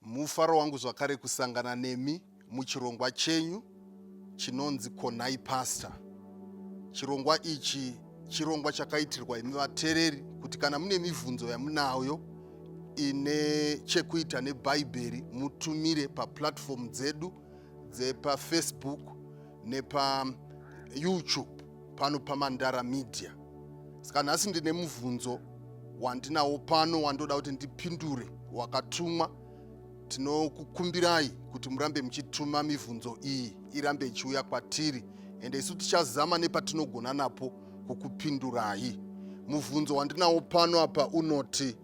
Mufaro wangu zvakare kusangana nemi muchirongwa chenyu chinonzi Konai Pastor. Chirongwa ichi chirongwa chakaitirwa imi vatereri kuti kana mune mibvunzo yamunayo ine chekuita nebhaibheri mutumire paplatform dzedu dzepafacebook nepayoutube pano pamandara media saka nhasi ndine mubvunzo wandinawo pano wandoda kuti ndipindure wakatumwa tinokukumbirai kuti murambe muchituma mibvunzo iyi irambe ichiuya kwatiri ende isu tichazama nepatinogona napo kukupindurai mubvunzo wandinawo pano apa unoti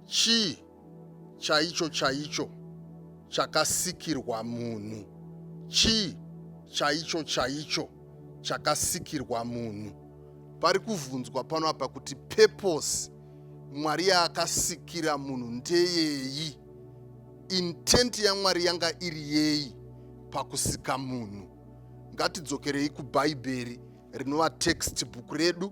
chii chaicho chaicho chakasikirwa munhu? Chii chaicho chaicho chakasikirwa munhu? Pari kuvhunzwa pano apa kuti purpose Mwari yaakasikira munhu ndeyeyi? Intent yaMwari yanga iri yeyi pakusika munhu? Ngatidzokerei kuBhaibheri rinova textbook redu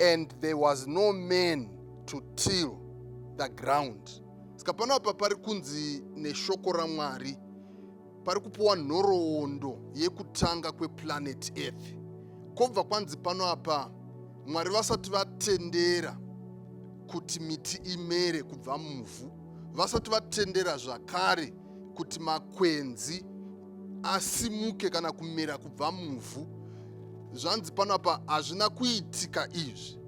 and there was no man to till the ground saka pano apa pari kunzi neshoko ramwari pari kupiwa nhoroondo yekutanga kweplanet earth kobva kwanzi pano apa mwari vasati vatendera kuti miti imere kubva muvhu vasati vatendera zvakare kuti makwenzi asimuke kana kumera kubva muvhu zvanzi pano apa hazvina kuitika izvi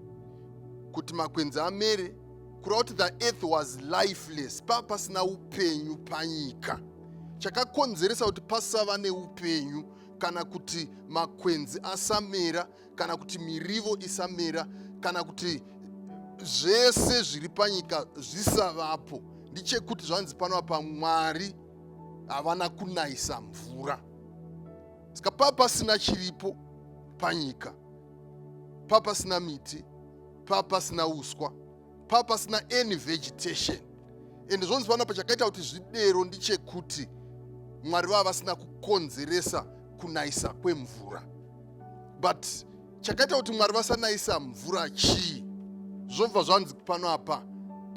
kuti makwenzi amere kureva kuti the earth was lifeless pava pasina upenyu panyika chakakonzeresa kuti pasava neupenyu kana kuti makwenzi asamera kana kuti mirivo isamera kana kuti zvese zviri panyika zvisavapo ndichekuti zvanzi pano apa mwari havana kunayisa mvura saka pava pasina chiripo panyika pava pasina miti pava pasina uswa pava pasina any vegetation and zvonzi pano pachakaita kuti zvidero ndichekuti mwari vava vasina kukonzeresa kunayisa kwemvura but chakaita kuti mwari vasanayisa mvura chii zvobva zvanzi pano apa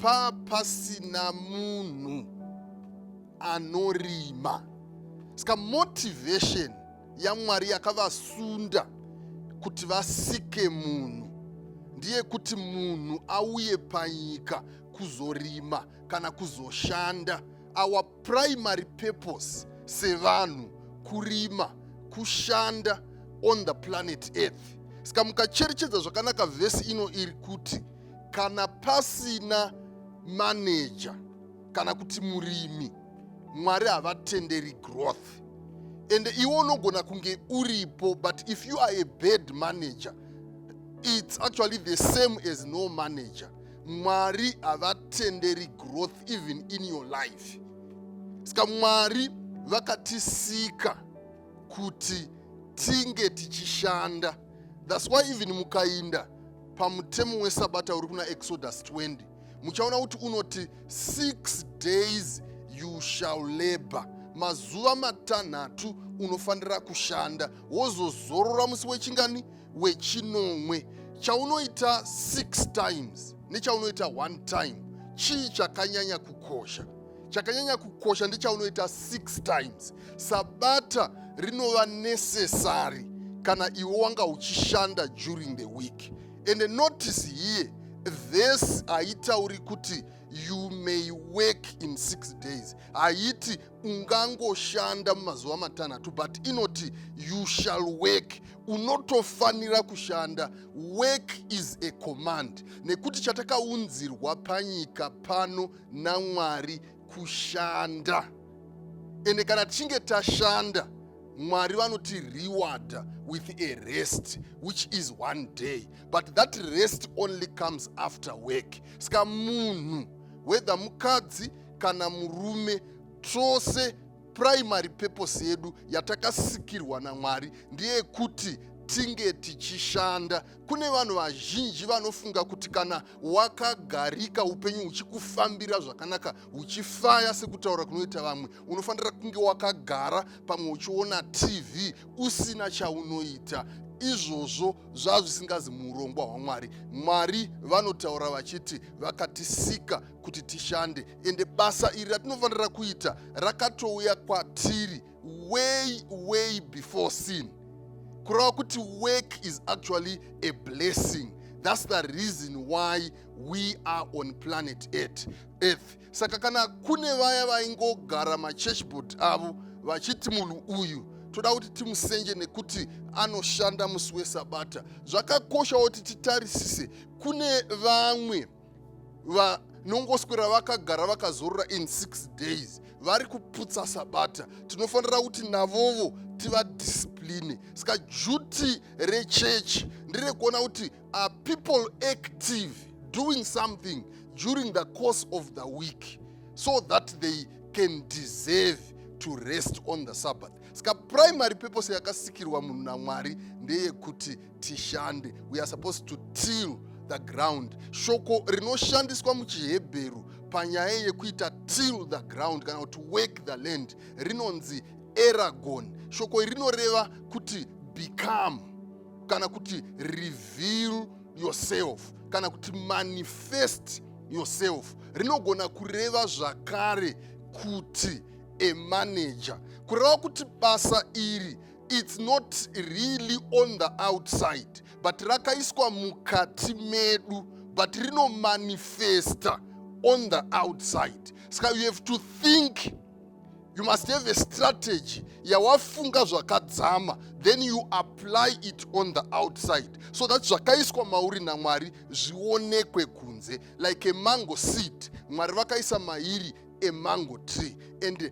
pa pasina munhu anorima saka motivation yamwari yakavasunda kuti vasike munhu ndiye kuti munhu auye panyika kuzorima kana kuzoshanda awa primary purpose sevanhu kurima kushanda on the planet earth saka mukacherechedza zvakanaka vhesi ino iri kuti kana pasina maneja kana kuti murimi mwari havatenderi growth ende iwe unogona kunge uripo but if you are a bad manager it's actually the same as no manager mwari havatenderi growth even in your life saka mwari vakatisika kuti tinge tichishanda thats why even mukainda pamutemo wesabata uri kuna exodus 20 muchaona kuti unoti six days you shall labor mazuva matanhatu unofanira kushanda wozozorora musi wechingani wechinomwe chaunoita 6 times nechaunoita 1 time chii chakanyanya kukosha chakanyanya kukosha ndechaunoita 6 times sabata rinova necessary kana iwe wanga uchishanda during the week and notice here this haitauri kuti you may work in six days haiti ungangoshanda mumazuva matanhatu but inoti you shall work unotofanira kushanda work is a command nekuti chatakaunzirwa panyika pano namwari kushanda ende kana tichinge tashanda mwari vanoti reward with a rest which is one day but that rest only comes after work saka munhu whether mukadzi kana murume tose primary purpose yedu yatakasikirwa namwari ndeyekuti tinge tichishanda kune vanhu vazhinji vanofunga kuti kana wakagarika upenyu huchikufambira zvakanaka huchifaya sekutaura kunoita vamwe unofanira kunge wakagara pamwe uchiona tv usina chaunoita izvozvo zvazvisingazi muurongwa hwamwari mwari vanotaura vachiti vakatisika kuti tishande ende basa iri ratinofanira kuita rakatouya kwatiri way way before sin kureva kuti work is actually a blessing thats the reason why we are on planet earth, earth. saka kana kune vaya vaingogara machurchboard avo vachiti munhu uyu toda kuti timusenje nekuti anoshanda musi wesabata zvakakoshawo kuti titarisise kune vamwe vanongoswera vakagara vakazorora in six days vari kuputsa sabata tinofanira kuti navovo tivadiscipline saka duty rechechi nderekuona kuti are people active doing something during the course of the week so that they can deserve to rest on the sabbath saka primary purpose yakasikirwa munhu namwari ndeyekuti tishande we are supposed to till the ground shoko rinoshandiswa muchihebheru panyaya yekuita till the ground kana kuti work the land rinonzi eragon shoko iri rinoreva kuti become kana kuti reveal yourself kana kuti manifest yourself rinogona kureva zvakare kuti emanager kureva kuti basa iri its not really on the outside but rakaiswa mukati medu but rinomanifesta on the outside ska you have to think you must have a strategy yawafunga zvakadzama then you apply it on the outside so that zvakaiswa mauri namwari zvionekwe kunze like a mango seed mwari vakaisa mairi emango tree and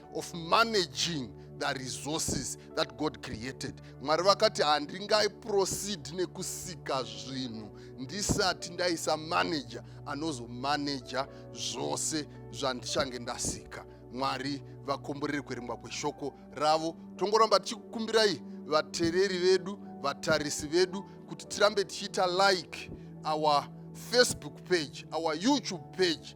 of managing the resources that god created mwari vakati handingai proceed nekusika zvinhu ndisati ndaisa manager anozomanaja zvose zvandichange ndasika mwari vakomborere kuerengwa kweshoko ravo tongoramba tichikukumbirai vatereri vedu vatarisi vedu kuti tirambe tichiita like our facebook page our youtube page